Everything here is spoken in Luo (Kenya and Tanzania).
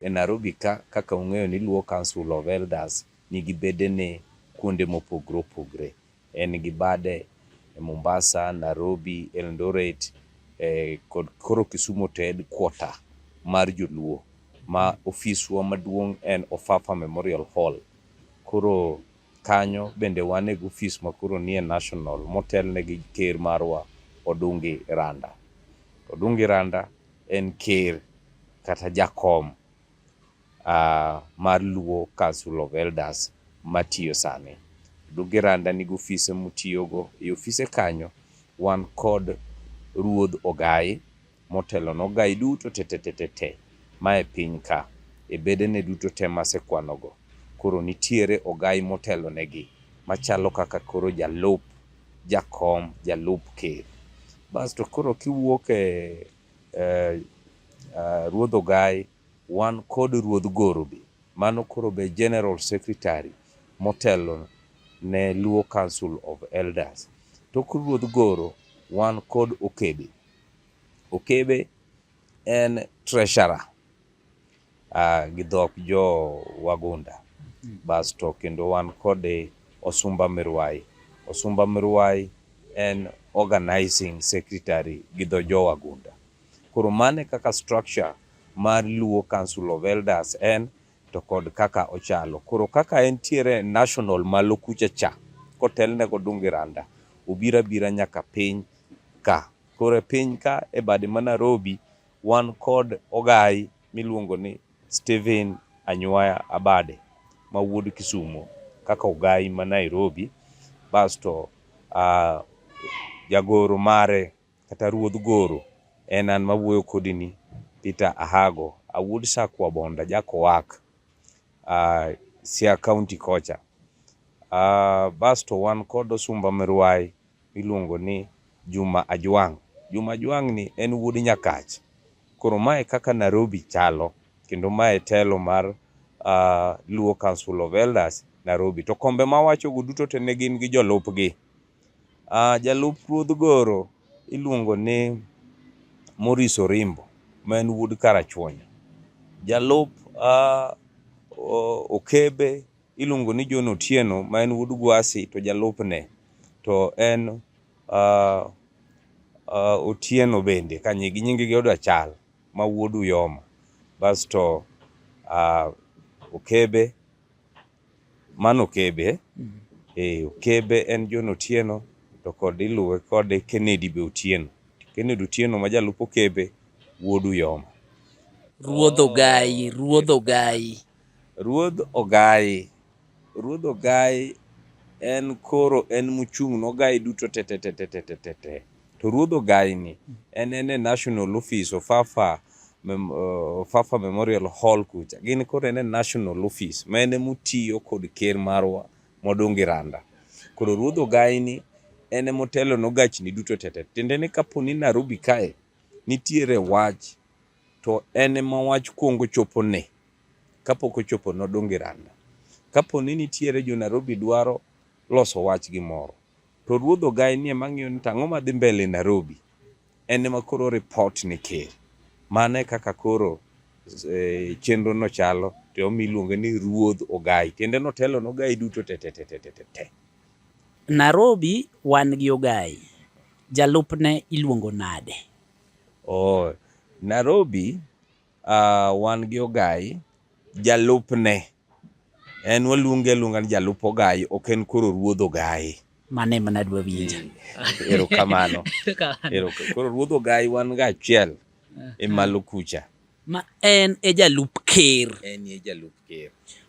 E Narobi ka, kaka ung'eyo ni Luo Council of Elders nigi bedene kuonde mopogre opogre. En gi bade e Mombasa, Narobi, Eldoret, kod koro Kisumu to headquarter mar joluo ma ofiswa maduong' en Ofafa Memorial Hall. Koro kanyo bende wan e gofis makoro nie national motelne gi ker marwa Odungi Randa. Odungi Randa en ker kata jakom uh, mar Luo Council of Elders matiyo sani. Duge Randa nigi ofise mutiyogo. E ofise kanyo wan kod ruodh Ogai motelo ne Ogai duto tetetetete mae piny ka e bedene duto te masekwanogo. Koro nitiere Ogai motelonegi machalo kaka koro jalup jakom, jalup ker. Bas to koro kiwuok e eh, ah, Ruodh Ogai wan kod Ruodh Goro be. Mano koro be General Secretary motelo ne Luo Council of Elders. Tok Ruodh Goro wan kod Okebe. Okebe en treasurer uh, gi dhok jo Wagunda basto kendo wan kode Osumba Mirwai. Osumba Mirwai en organizing secretary gi dho jo Wagunda. Koro mane kaka structure mar Luo Council of Elders en to kod kaka ochalo. Koro kaka entiere national malo kucha cha kotelne kod Dungi Randa obira bira nyaka piny ka. Koro e piny ka e bade ma Nairobi Wan kod ogayi miluongo ni Stephen Anywaya Abade ma wuod Kisumo kaka ogayi ma Nairobi basto uh, jagoro mare kata ruodh goro en an mawuoyo kodini Peter Ahago awuod Sakwa Bonda Jakowak uh, Siaya County kocha uh, basto wan kod Osumba Mirwai miluongo ni Juma Ajwang'. Juma Ajwang' ni en wuod Nyakach. Koro ma e kaka Narobi chalo kendo ma e telo mar Luo Council of Elders Narobi. To kombe ma awachogo duto te ne gin gi jolupgi. Jalup Ruodh Goro iluongo ni Maurice Orimbo ma en wuod Karachuonyo. Jalup Okebe. Iluongo ni John Otieno ma en wuod Gwasi to jalupne to en uh, uh, Otieno bende ka nyigi nyinggi oda chal ma wuod Uyoma basto uh, Okebe mano Okebe mm. eh, Okebe en John Otieno to kod iluwe kod Kennedy be Otieno Kennedy Otieno ma jalup Okebe wuod Uyoma Ruodh Ogai Ruodh Ogai Ruodh Ogayi. Ruodh Ogayi en koro en muchung' nogayi duto tetetetetetete. To Ruodh Ogayi ni en en e National Office of Fafa, mem, uh, Fafa Memorial Hall kucha. Gin koro en e National Office ma en emutiyo kod ker marwa modongi randa. Koro Ruodh Ogayi ni en emotelo nogachni duto tete. Tiende ni kapo ni Nairobi kae nitiere wach To en ema wach kuongo chopo ne. Kapok ochopo nodong' gi randa. Kapo ni nitiere jo Narobi dwaro loso wach gi moro, to ruodh Ogai ni ema ng'iyo ni to ang'o madhi mbele Narobi. En ema koro report ne ker. Mano e kaka koro eh, chenro no chalo to omi iluonge ni ruodh Ogai. Tiende ni otelo ne Ogai duto te te te te te te te. Narobi wan gi Ogai. Jalupne iluongo nade? Oh, Nairobi ah, wan gi Ogai, jalupne en waluonge aluonga ni jalup Ogai, ok en koro ruodh Ogai. Mano ema nadwa winjo. Erokamano. Erokamano. Eroka- Koro ruodh Ogai wan ga achiel e malo kucha. Ma en e jalup ker. En e jalup ker.